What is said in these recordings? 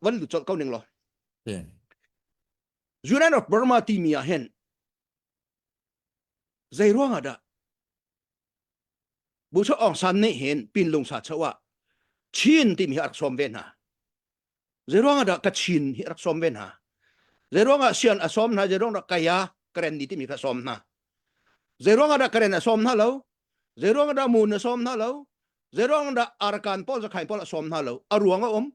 van lut colh ko ning lo Union of Burma timi ah hen zei ruang ah dah bu cho ong san nih hin pin lung sa chawa chin timi hi rak som ve hna zei ruang ah dah ka chin hi rak som ve hna zei ruang ah sian a som hna zei ruang dah kaya karen ni timi ka som hna zei ruang ah dah karen a som hna lo zei ruang dah mun a som hna lo zei ruang dah arkan pol zakhai pol a som hna lo a ruang a um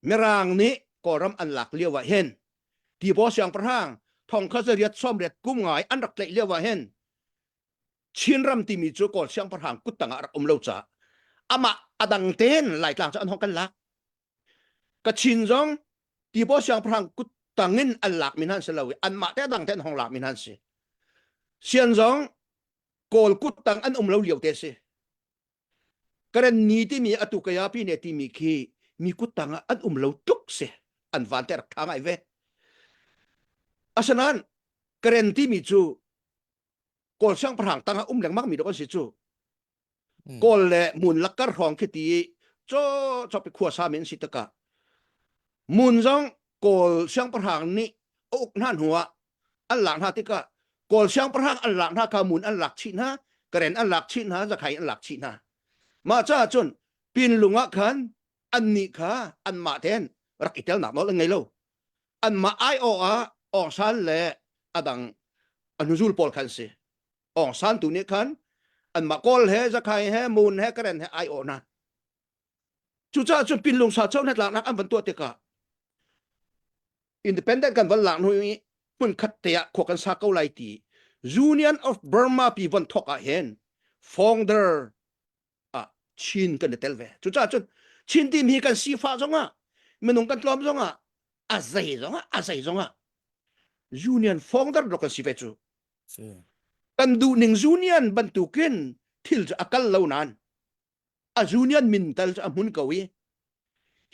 Mirang nih Kawlram an lak lio ah hin Tibaw siangpahrang thongkhat riat sawm riat kum ngai an rak tlaih lio ah hin Chinram timi cu Kawl siangpahrang kut tangah rak um lo caah amah a dang tein Laitlang cu an hong kan lak. Kachin zong Tibaw siangpahrang kut tangin an lak min han si lo i anmah te a dang te an hong lak min han si. Sian zong Kawl kut tang an um lo lio te si. Karen ni timi atu kaya pi ne timi khi mi kuttang ah an um lo tuk se an van ter tha ngai ve asanan karen timi cu kawl sang parang tanga um lengmang mi dok an si cu kawl le mun lakkar hrawng khi ti cho cho pi khua sa men si taka mun zong kawl sang parang nih uk nan huwa an lak hna tikah kawl siangpahrang an lak hna kamun an lak chih hna karen an lak chih hna zakhai an lak chih hna mah caah cun pinlung ah khan an nih kha an mah ten rak i telnak nawl an ngei lo an mah ai o ah ongsan le adang anuzul pawl khan si ongsan tu nih khan an mah kawl he zakhai he mun he karen he ai o na cucaah cun pinlung sa cho net laknak an van tuah tikah independent kan von lak hnu i hmun khat te ah khua kan sa ko lai ti Union of Burma pi von thok ah hen founder ah Chin kan i tel ve cucah cun Chin team hi kan sifa zongah minung kan tlawm zongah a zei zongah a zei zongah union founder lo kan si ve cu kan duh ning union bantukin thil cu a kal lo nan a union min tal a hmun ko i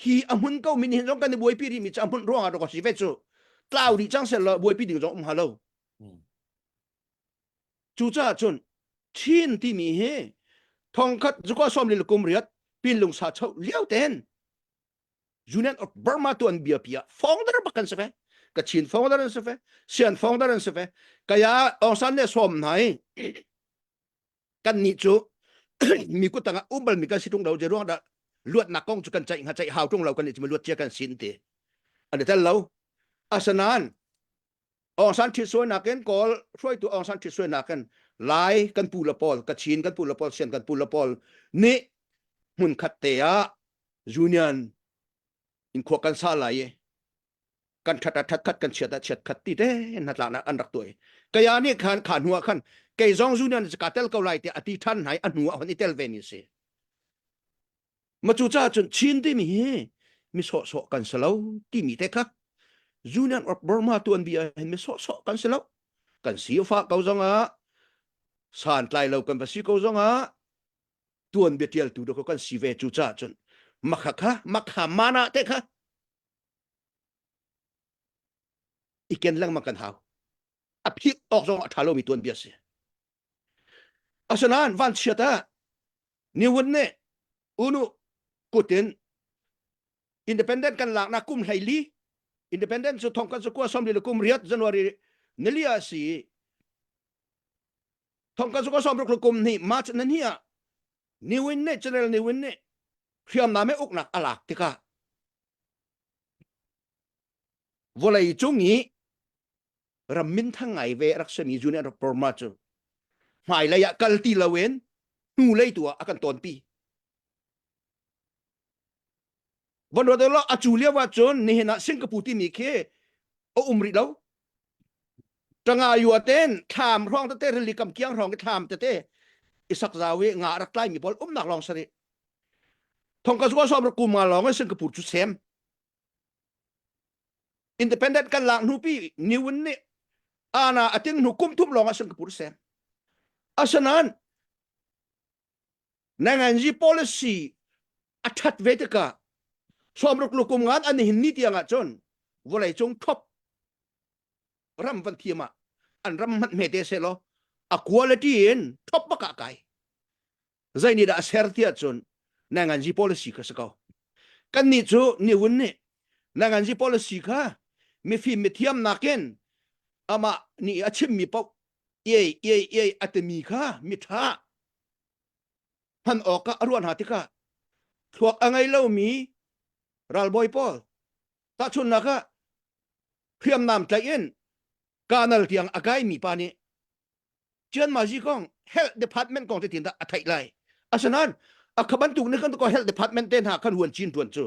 hi a hmun ko min hin zong kan i buaipi rih mi cu a hmun ruang ah rak si ve cu tlau rih cang sel lo buaipi ding zong um ha lo cucaah cun chin timi hi thongkhat zuka som lil kum riat pin lung sa chau liau ten union of burma tu an bia pia founder ba kan se ve ka chin founder an se fe sian founder an se fe kaya ongsan ne som nai kan nih cu mi kut tangah um bal mi kan si tung lo je ruang da luatnak kong cu kan ceih ha ceih hau tung lo kan ni luat cia kan sin ti ani tel lo asanan ongsan thit suai nakin kol hruaitu ongsan thit suai nakin lai kan pu la pol ka chin kan pu la pol sian kan pu la pol ni mun khat te a union in kho kan sa lai kan that a that khat kan chiat a chiat khat ti te na tla na an rak tuai kaya ni khan kha hnua khan kei zong zu nan ka tel ko lai ti ati than hai a hnua hon i tel ve ni si ma chu cha chun chin ti mi hi mi so so kan salo ti mi te kha Julian of Burma tuan bia hin mi so so kan salo kan si fa ko zonga san tlai lo kan basi ko zonga tuan betial tu do kan si ve chu cha chun makha kha makha mana te kha i ken lengmang kan hau a phik awk zong a ṭha lomi tuanbia a si asinain vanchiat ah niwun nih unu kutin independent kan laknak kum hleili independent cu thong kan su kua somli le kum riat january nili a si thong kan su kua som ruk le kum ni march nan hi ah Ni Win nih Janel Ni Win nih hriamnam i uknak a lak tikah vawlei cung i ram minthang ngai ve rak simi Junior Perma cu hmailei ah kal ti loin hnulei tu ah a kan tawnpi. Van ruat law a cu lio ahcun nihin ah Singapore timi khi a um rih lo. Tanga yua ten thlam hrawng tete rili kam kiang hrawng thlam tete isak zawi nga rak tlai mi pawl um nak lawng sari. Thongka suwa som ra kuma lawng in Singapore cu sem. Independent kan lak hnu pi niwun ni ana atin hnu kum thum lawng ah Singapore sem. Asanan Nangan ji policy a that ve tikah Somruk lukum ngan an hin ni tiang ah cun vawlei cung thop ram van thiam ah an ram hmanh hme te se law a quality in thop baka kai zai ni da ser ti cun nangan ji policy ka se ko kan ni cu ni hun ni nangan ji policy kha mifim mithiam nakin ama ni a chim mi pau iai iai iai a temi kha miṭha hman awkah a ruah hna tikah thluak a ngei lomi ralbawi pawl tahchunnak ah hriamnam tlaih in kanal tiang a kaimi pa nih Chian Mazi kong health department kong te tindah a theih lai asinain a kha bantuk ne kan ko health department te hna kan huan chin tuan cu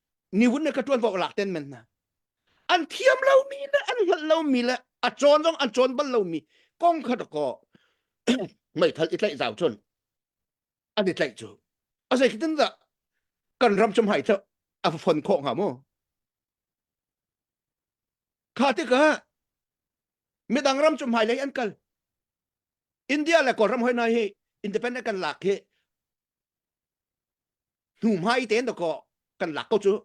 ni hun ne ka tuan vok lak ten men na an thiam lo mi le an hngal lo mi le a chon zong an chon bal lo mi kong khat ko mai thal i tlaih zau chun an i tlaih cu a sei kitin da kan ram chum hai ta a phon kho nga mu kha ti ka midang ram chum hai lei an kal india le kol ram hoi na hi independent kan lak hi hnuhmai tein to ko kan lak ko cu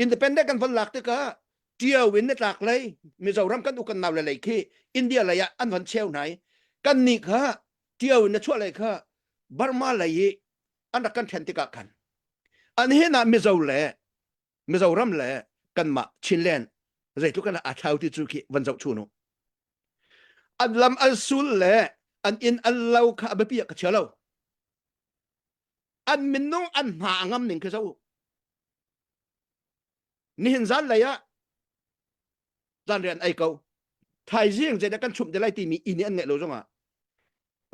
independent kan van lak tikah ṭio in na tlak lei mizoram kan u kan nau le lei khi india lei ah an van cheu nai kan ni kha ṭio in na chuah lei kha burma lei i an rak kan ṭhen tikah khan an hin ah mizo le Mizoram le kanmah Chinland zeitluk in aa thlau ti cu khi van zoh chu nu. An lam an sul le an inn an lo kha a biapi ka chia lo. An minung an hna a ngam ning khi zo. Nihin zan lei ah zan rian ai ko. Thaizing zei da kan chum te lai ti mi inn an ngai lo zong ah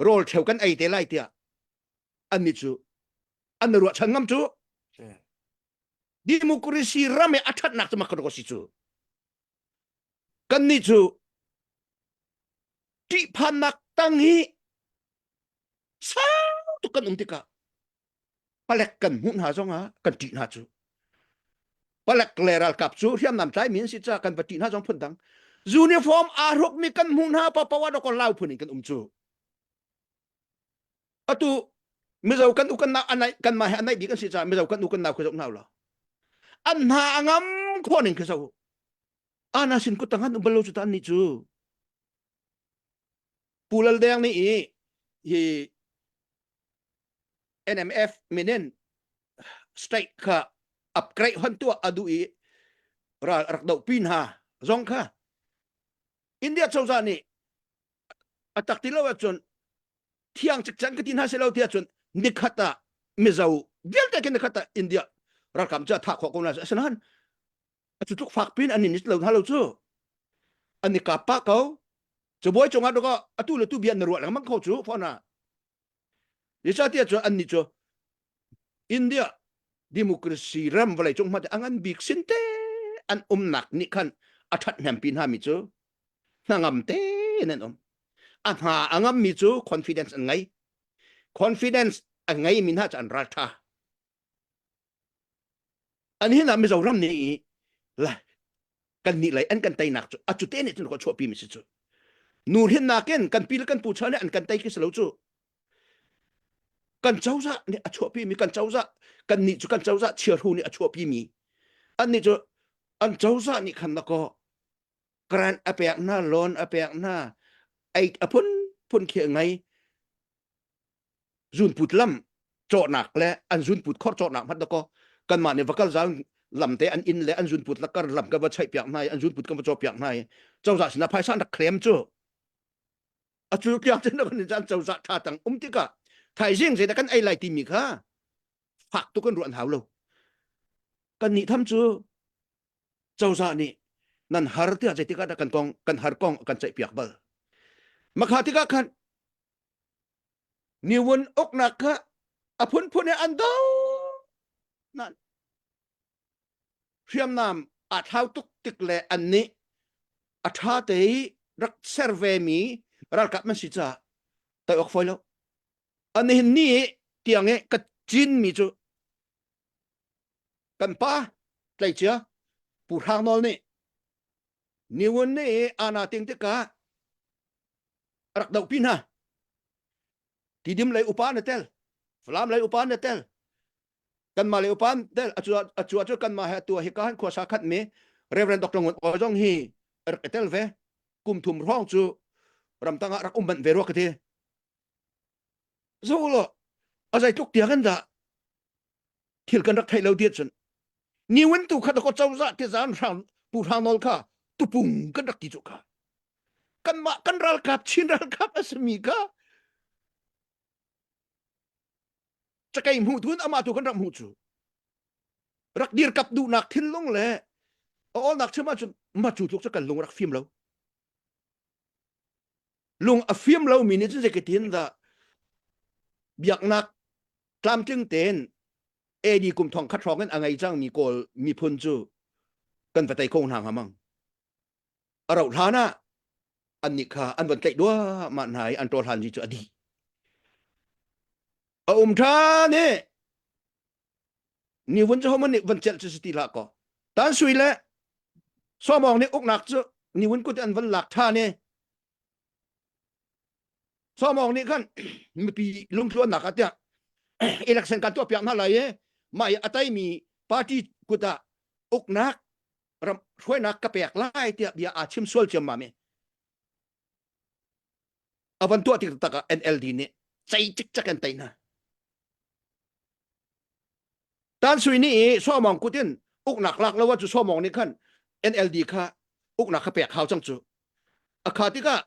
rawl cheu kan ei te lai tiah an ni cu an ruah chan ngam cu democracy ram i a thatnak cu makadok a si cu kannih cu ṭihphannak tang hi sau tuk kan um tikah palek kan hmuh hna zongah kan ṭih hna cu palek le ralkap cu hriamnam tlai mi an si ca kan va ṭih hna zong phun dang uniform aa rukmi kan hmuh hna pa pawa dokor lau phun in kan um cu atu mizo kan u kan nau anai kanmah he anai bik an si caah mizo kan u kan nau khi zoh hna lo an hna angam kho ning khi zo ana sin ku tangan ubalo chu tan ni chu pulal deng ni i hi NMF minin strike kha upgrade hon tua adu i rak do pin ha zong kha India choza ni atak ti lo chun thiang cek can ka ti hna se lo ti ahcun nikhat ah mizo vialte ke nikhat ah india rakam cu atha kho ko na asinain acu tluk fak pin an nit lo hna lo cu ani ka pa ko chabuai chunga to atu le tu bian na ruah lengmang kho chu fona yisa ti ahcun an ni chu India democracy ram vale cung ma an an bik sin te an umnak ni khan a that hnem pi hna mi cu hnangam te nan um a hna a ngam mi cu confidence an ngai confidence an ngai mi hna an ral tha An hin ah Mizoram nih i la kan nih lei an kan teinak cu a cute nih cun ko chuahpi mi si cu nu hin nakin kan pi le kan pu cha nih an kan tei khi si lo cu kan cozah nih a chuahpi mi kan cozah kan nih cu kan cozah chiarhu nih a chuahpi mi an nih cu an cozah nih khan na ko grant a pek hna loan a pek hna ei a phun phun khi ngai zunput lam cawhnak le an zunput khor cawhnak hmat dakaw kanmah nih vakal zang lam te an in le an zunput lakar lam ka va chai piak hnai an zunput ka va chaw piak hnai cozah sinah phaisa nak khlem cu a cu kya chin kan jan cozah tha tang um tika thaizing zei da kan ai lai ti mi kha fak tu kan ruan hau lo kan ni tham cu cozah nih nan har tia zei tika da kan kong kan har kong kan chai piak bal makha tika khan niwun uknak kha a phunphun he an do nan hriamnam a thlau tuk tik le an nih a tha te rak serve mi ralkap man si cha tai ok foi lo ani ni tiang e ka cin mi chu kan pa tlai chia pu hrang nol ni Niwonne i ana ting tikah rak doh pi hna. Tidim lei upa na tel. Falam lei upa na tel. Kanma lei upa tel. Acu acu kanma he tua hi ka han khua sa khat mi Reverend Dr. Ngun Oi zong hi rak etel ve. Kum thum rong cu ramtang ah rak umban ve ruak ti. zo lo azai tluk tia kan da thil kan rak thei lo diat cun ni wen tu kha ko chawza ti zan hrang pu hrang nol kha tupung kan rak ki chu ka kan ma kan ral kap chin ral kap asami ka chakai mu tun ama tu kan rak mu chu rak dir kap du nak thil lung le a ol nak chema chun ma chu tluk cha kan lung rak phim lo lung a fim lomi nih cun zeikatin dah biaknak tlamtling tein AD kum thong khat hrawng in a ngei cangmi kawl miphun cu kan va tei ko hna hnga mang a rauh hlan ah an nih kha an von tlaih duahmah hna i an ṭawr hlan cu a dih a um ṭhan i ni vun cu homan nih van celh cu ti la ko tan sui le somong nih uknak cu ni vun kut an van lak tha ne somong nih khan mipi lungthluannak atiah election kan tuah piak hna lai e mai atai mi party kuta uknak ram hruainak ka pek lai tiah bia a chim sual ciam ma me A van tuah tik taktak ah NLD nih cei cikcek an tei hna. Tan sui ni i somong kut in uknak lak lo cu somong nih khan NLD kha uknak kha pek hau cang cu. A kha tikah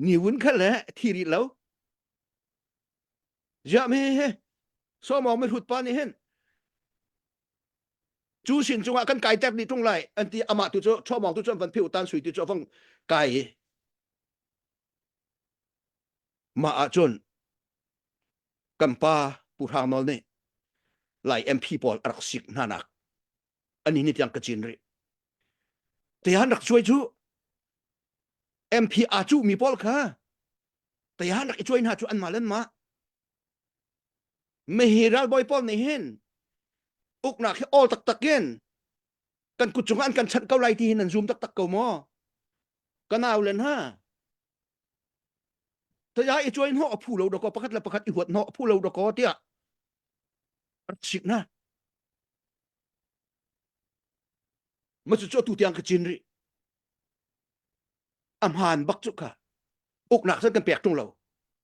niwun kha le thi rih lo. Ziah me he somong mi hlut pa nih hin cu sin cungah kan kai tek ni tlung lai an ti amah tu cu chuamawng tu cu an van pheu tan sui tu cu avang kai i ma ah cun kan pa pu hrang nol nih lai MP pawl a rak sik hna nak ani ni tiang ka cin ri tehan rak chuai chu MP a chu mi pawl kha tehan rak i chuai hna chu an ma len ma Mihi ralbawi pawl nih hin uknak hi awl taktak in kan kut cungah an kan chanh ko lai ti hin an zum taktak ko maw? Ka nau len ha. Taya i chuain ho a phu lo doko pakhat le pakhat i huat no a phu lo doko tiah sik na. Macu cu tu tiang ka cin ri. Amhan bak cu ka uknak san kan pek tung lo.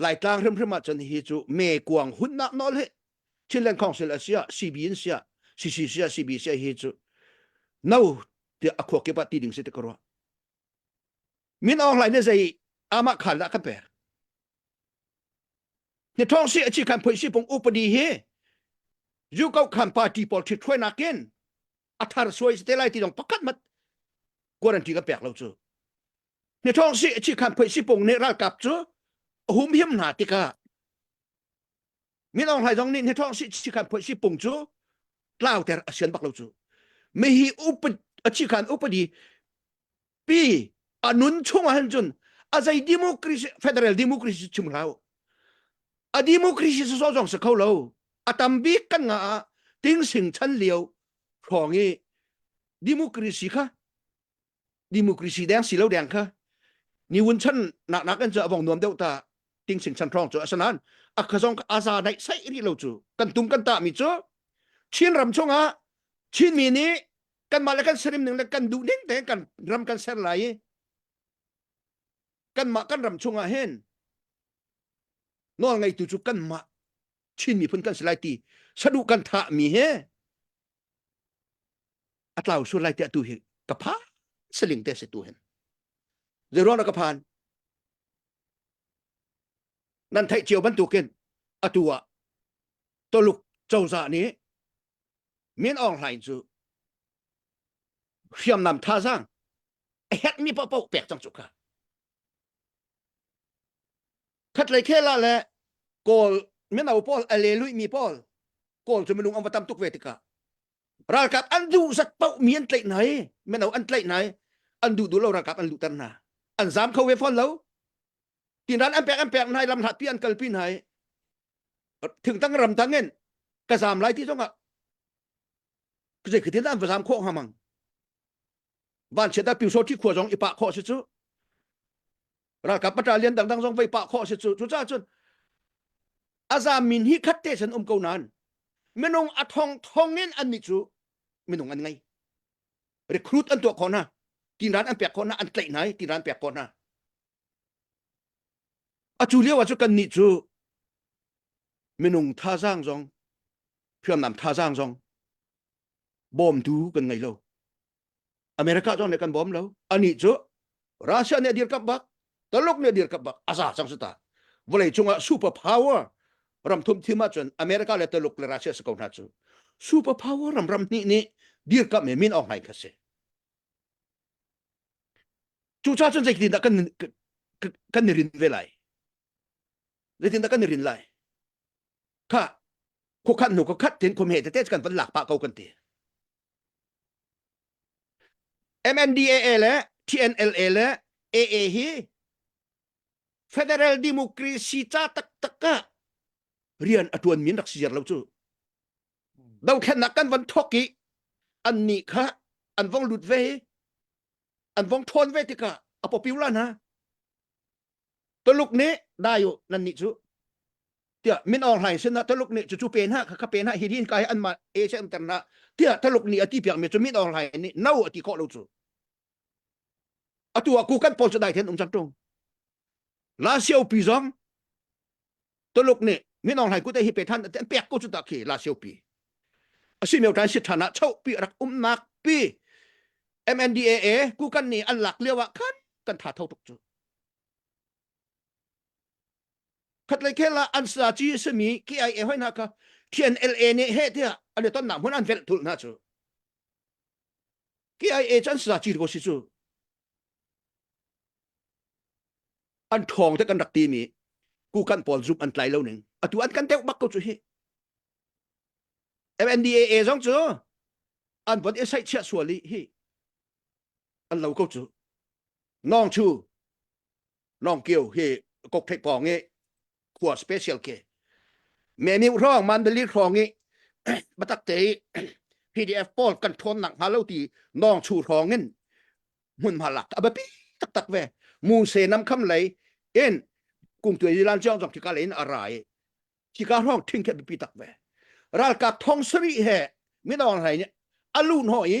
Laitlang hrimhrim ahcun hi cu me kuang hunnak nawl hi Chinland Council a sia CB in sia CC sia CB sia hi cu no ti a khuak kip ah ti ding si ti ka ruah min aung hlain ne zei amah khan dah kan pek ni thong si a chi khan phoi si pung upadi hi yu kau khan party pawl thi thoi nakin a thar suai te lai ti dong pakhat mat quarantine ka pek lo chu ni thong si chi khan phoi si pung ne ral kap cu hum hiam na tikah min ong hlai zong nih ni thong si chi khan phoi si pung cu tlau ter asian bak lo cu me hi upat a chi khan upadi pi anun chung han chun a zai democracy federal democracy chim lau a democracy so jong se kho lo atam bi kan nga ting sing chan liu thong i democracy kha democracy deng si lo deng kha ni wun chan nak nak an cha bong nuam deuh ta ting sing chan trong chu asanan akhazong ka aza nai sai ri lo chu kan tung kan ta mi chu chin ram chunga chin mi ni kan mah le kan sarim ning le kan du ding te kan ram kan ser lai kan mah kan ram chunga hen nol ngai tu chu kan mah chin mi phun kan silai ti sadu kan tha mi he a tlau sur lai tiah tu hi ka phan saling te se tu hen zei ruang ka phan nan theih cio bantukin atu ah toluk coza nih min ong hlain cu hriamnam thazang a hek mi papo pek cang cu ka khat lei khela le kawl mino paul alelui mi paul kawl cu minung am va tam tuk ve tika ralkap an duhzat paoh mi an tlaih hna i meno an tlaih hna i an duh duh lo ralkap an luhter hna an zam kho ve fawn lo tinran an pek an pek hna i lam hlatpi an kalpi hna i thingtang ramtang in ka zam lai ti zongah zei khitin an va zam khawh hnga mang vanchiat a pyusawt khi khua zong i pah khawh si cu ralkap pata lian dangdang zong vei pah khawh si cu cucaah cun azam min hi khat te sen um ko nan minung a thong thong in an ni cu minung an ngai recruit an tuah khona tiran an pek khona an tlaih nai tiran pek khona a cu lio ah cu kan ni cu minung thazang zong phiamnam thazang zong bawmtu kan ngei lo america zong le kan bawm lo ani cu russia nih dir kap bak taluk nih dir kap bak aza sang su ta vawlei cungah super power ram thum thim ahcun america le taluk le russia si ko hna cu super power ram ram hnih nih dir kap me min ong hain kha si cu cha cun zeitin dah kan kan ni rin ve lai zeitin dah kan ni rin lai kha khuakhat hnu khat tin khum he tete kan van lak pa ko kan ti MNDAA le TNLA le AA hi federal democracy cha tak tak ka rian atuan min rak si jar lo chu dothlennak kan van thok i an ni kha an vong lut ve an vong thon ve tika apopiula na Tuluk nih dai u nan nih cu tiah min or hlai sin ah Tuluk nih cu cu pe hna kha ka pe hna hi din ka hi an ma e che am ter hna tiah Tuluk nih a ti piak mi cu min or hlai nih no a ti khawh lo cu atu a ku kan pol cu dai then um cang tung la siopi zong Tuluk nih min ong hai kute hi pethan an pek ko chu ta khi la sio pi asi meu tan si thana chau pi rak um nak pi MNDAA ku kan ni an lak liawa khan kan tha thau tuk chu khat lai khela an sa chi sami ki ai e hoi na ka thian LA ne he tia ale ton na mun an vel thul na chu ki ai e chan sa chi ko si chu an ṭhawng te kan rak timi kukan pawl zumh an tlai lo ning atu an kan deuh bak ko cu hi MNDAA zong cu an von i saih chiah sual i hi an lo ko cu nong chu long kio hi kok thei pong i khua special ke me ni rong man dali rong i batak te PDF paul kan thon nak ha lo ti nong chu rong in mun ma lak abapi tak tak ve mu se nam kham lei in cung tuai lan jong jong thika lein arai thika rong thing ke bipi tak ve ral ka thong sami he mi dong rai ni alun ho i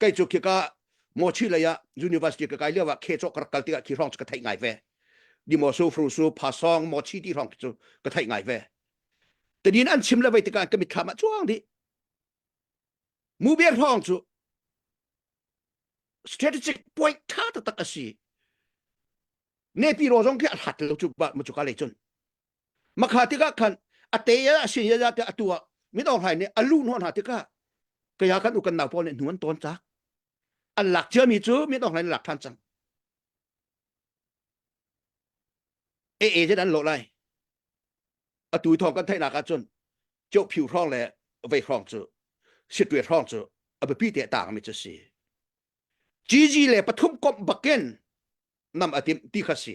kai cu khi ka mo chi lei ah university ka kai liawa khe cho ka kal tikah khi rong ka thai ngai ve di mo su fru su pa song mo chi ti rong cu ka thai ngai ve tadin an chim le vai tikah ka mit kham a chuang di mu be rong cu strategic point tha tak asi ne pi ro zong khi a hlat lo chu ba mu chu ka le chun Makha tikah khan ate ya sin ya ya te atu ah min or hlai nih alu nuan ha tikah kaya kan u kan nau pawl nih nuan ton tak an lak cia mi cu min or hlai lak than cang e e je an lo lai atu thong kan theihnak ah cun ceu phiu hrong le vei hrong cu sitwe hrong cu abipi te tang mi cu si gg le pathum kom bakin nam atim ti kha si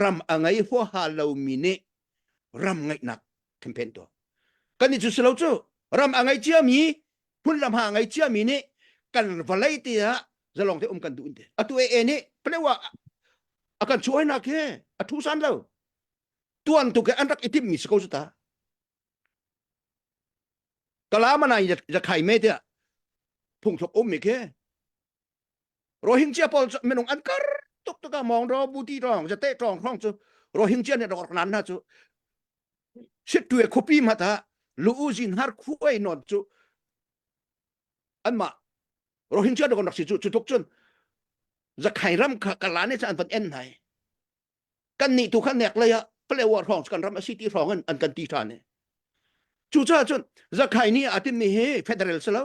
ram a ngei huaha lomi nih ram ngeihnak campaign tuah kan i cu silo cu ram a ngei ciami phunlam ha ngei ciami nih kan valei te ah zalong te um kan duh te atu e nih plewa a kan chuai nak he a thu san lo tuan tu ke an rak itim mi siko ta kalama na ya khai me te phung thok um mi ke rohingya pawl cu minung an kar tuk tuka mong ro buti rong jate trong rong chu rohingya ne rok nan na chu sit tuwe khupi mata lu u jin har khu ai non chu an ma rohingya do nak si chu chu tuk chun zakai ram kha kalane cha an van en nai kan ni tu khan nek la ya play war rong kan ram city rong an an kan ti tha ne chu cha chun zakai ni atin ni hi federal selo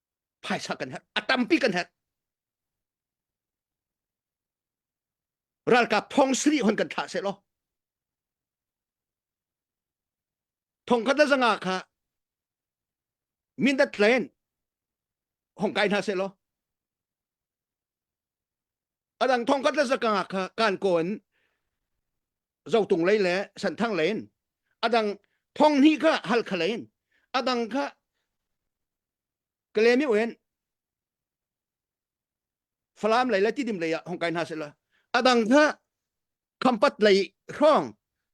phaisa kan herh a tampi kan herh ralkap thong siri hon kan thlah se law thong khat zanga kha mindat len hong kai hna se law adang thong kan zakang kha kan kon zotung lei le santhang lein adang thong ni kha hal kha lein adang kha kalemi wen falam lei le tidim lei ah hong kai hna sela adang kha khampat lei rong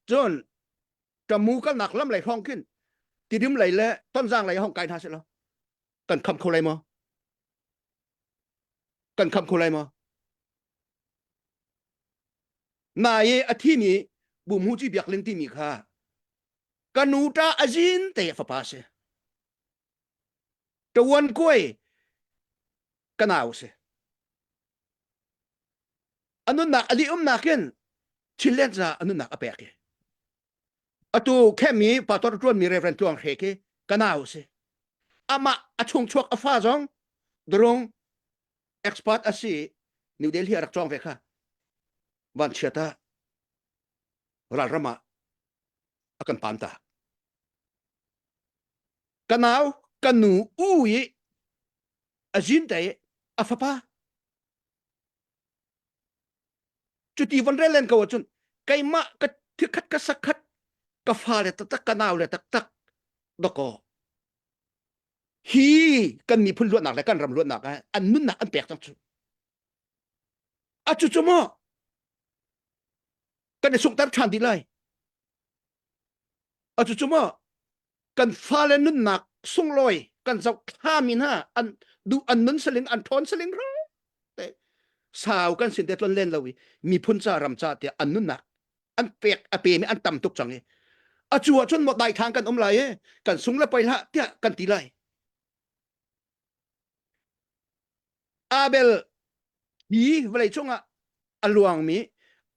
chun tamu kal nak lam lei rong kin tidim lei le tonzang lei hong kai hna sela kan kham kho lai mo kan khamh kho lai ma na i a thimi bu mu ci biak len timi kha ka nu ta a zin te fapa si tawan kuai kanau si anun nak ali um nakin chillen za anun nak apek atu khenmi pastor ṭuanmi Reverend Tluang Hre khi ka nau si amah a chungchuak a fa zong drong expert a si New Delhi a rak cawng ve kha van chia ta ralram ah a kan pam ta ka nau ka nu u i a zin te a fapa cuti van rel len ko ahcun keimah ka thirkhat ka sakhat ka fa le taktak ka nau le taktak doko hi kan miphun luatnak le kan ram luatnak ah an nunnak an pek cang cu a cu cu mo kan i sungter ṭhan dih lai a cu cu mo kan fale nunnak sunglawi kan zoh thlami hna an duh an nun salin an ṭhawn saling ra te sau kan sin te tlon len lo i miphun ca ram ca tiah an nunnak an pek a pemi an tam tuk cang i a cu ahcun mo dai thang kan um lai e kan sung le poi hlah tiah kan ti lai abel hi vawlei cungah a luangmi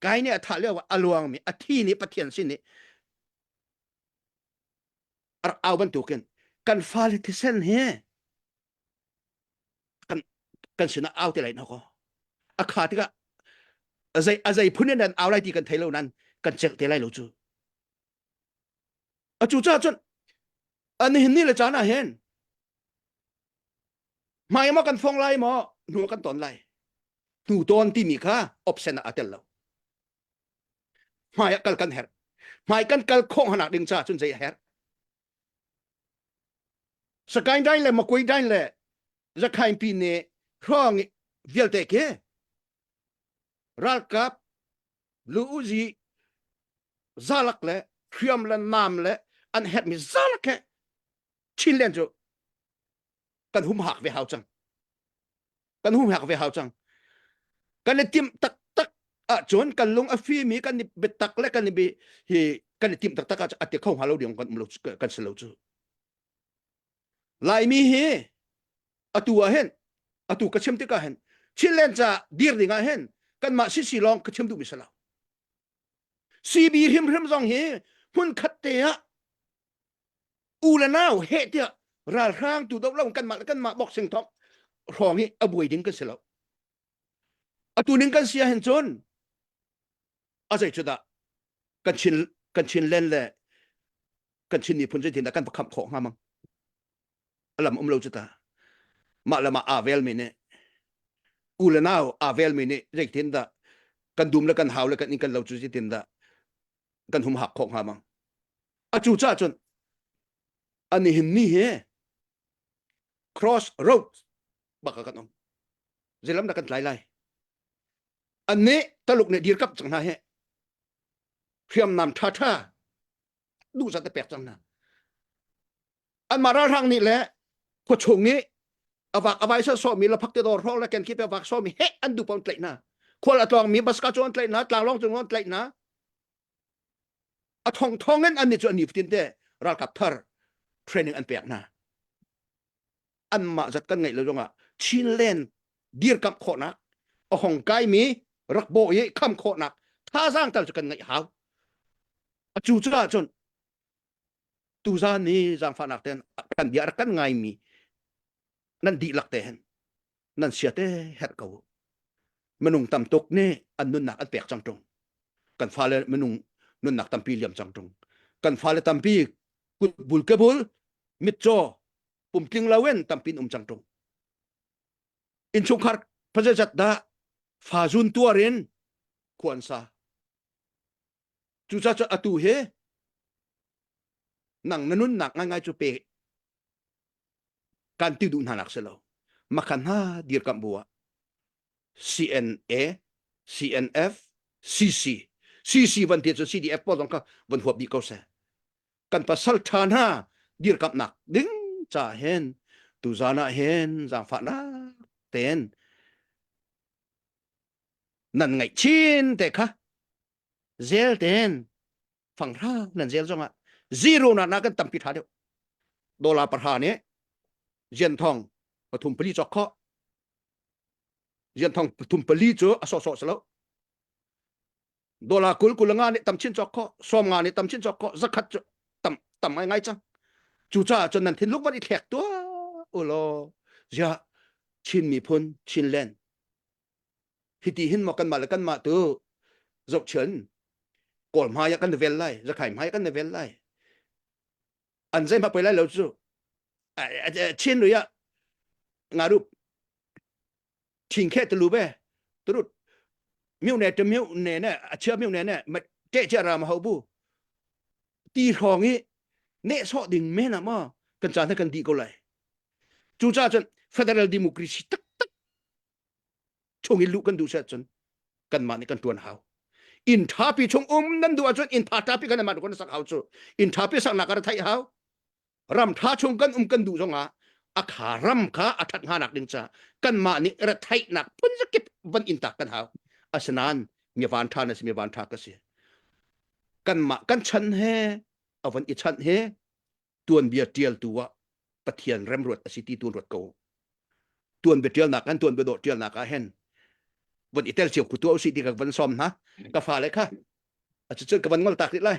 kai nih a thah lio a luangmi a thi nih pathian sin nih ar au bantukin kan fale thisen hi kan kan sinah au te lai na ko a kha tikah azei azei phun in an au lai ti kan thei lo nan kan chek te lai lo cu a cu cah cun ani hin ni le caan ah hen hmai ma kan phong lai maw hnu kan ton lai hnu ton timi kha option ah a tel lo hmai ah kal kan herh hmai kan kal khawh hnanak ding caah cun zei a herh sakain dain le makui dain le zakhain pi ne hrong vialte ke ralkap lu uzi zalak le hriam le nam le an het mi zalak he chin len cu kan hum hak ve hau cang kan hum hak ve hau cang kan i tim taktak ahcun kan lung a fimi kan i biatak le kan i bi hi kan i tim taktak ahcun a ti kho hnga lo ding kan lo kan si lo cu laimi hi atu ah hen atu ka chim tikah hen chilen ca dir ding ah hen kanmah sisi lawng ka chim duh mi si lo CB hrim hrim zong hi hmun khat te ah u le nau he tiah ralhrang tu do lo kanmah le kanmah boxing thok hrawng hi a buai ding kan si lo atu ning kan sia hin cun a zei cu dah kan chin kan chin len le kan chin ni phun zei tin dah kan pakham khawh hnga mang alam um lo cu ta mah le mah avel mi nih u le nau avel mi nih zei tin dah kan dum le kan hau le kan in kan lo cu zei tin dah kan hum hak khawh hnga mang a cu cha cun ani hin ni he cross road baka kan om zelam da kan tlai lai an ne taluk ne dir kap chang hna he hriam nam tha tha du sa te pek chang na anmah ralhrang nih le khuachung nih avak avai sa somi laphak te dor hrong le ken khip avak somi he an du pom tlaih na khual atluang mi baska chu an tlaih na tlanglong chu an tlaih na a thong thong in an ni chu an ni futin te ralkap thar training an pek na anmah zat kan ngai lo zongah chinland dir kam khawnak a hong kai mi rak bo i kham khawnak thazang tal chu kan ngai hau a chu chu ah cun tuzaan i zaangfahnak ten kan bia kan ngaimi nan dihlak te hen nan sia te her ko minung tam tuk nih an nunnak an pek cang tung kan fale minung nunnak tampi liam cang tung kan fale tampi kut bul ke bul mitcho pumtling lawen tampin um cang tung inchungkhar pajajat da fa zun tuarin khuansa Cucaah atu hi nang na nunnak ngaingai cu pe kan ti duh hna nak si lo makhan ha dir kam bu ah CNA CNF CC CC van ti cun CDF pawl zong kha van huap dih ko seh kan pasal than ha dir kam nak ding cha hen tu zana hen zangfahnak ten nan ngaih chin te kha zel ten fang hra nan zel zongah zero na na kan tampi tha deuh dola parha nih jian thong pathum pali chok kho jian thong pathum pali cu a so so selo dola kul kulanga nih tam chin chok kho som nga nih tam chin chok kho zakhat cu tam tam ai ngai chang cu cha chon nan thin luk van i thlek tua ulo zia chin mi phun chin len Hiti hin maw kanmah le kanmah tu zohchun kawl hmai ah kan vel lai zakhai hmai kan vel lai an zei hmak pei lai lo cu chin lui ah nga rup thing khe te lu be turut miu ne te miu ne ne a chia miu ne ne ma te chia ra ma ho bu ti hrong i ne so ding me na ma kan cha kan di ko lai cu cha cun federal democracy tak tak chung i luh kan duh si ahcun kanmah nih kan ṭuan hau inn ṭhapi chung um nan duh ahcun inn tha ṭhapi kan nan kan sak hau cu inn ṭhapi saknak kan theih hau ram ṭha chung kan um kan duh zongah a kha ram kha a ṭhat hnga nak ding ca kanmah nih retheihnak phun zakip van in tak kan hau asinain mi van ṭha na si mi van ṭha ka si kanmah kan chan he avan i chan he tuanbia ṭialtu ah Pathian remruat a si ti tu ruat ko tuanbia ṭialnak kan tuanbia dawh ṭialnak ah hen von i tel cio ku tuah usih ti ka van som hna ka fa le kha a cucun ka van ngol tak rih lai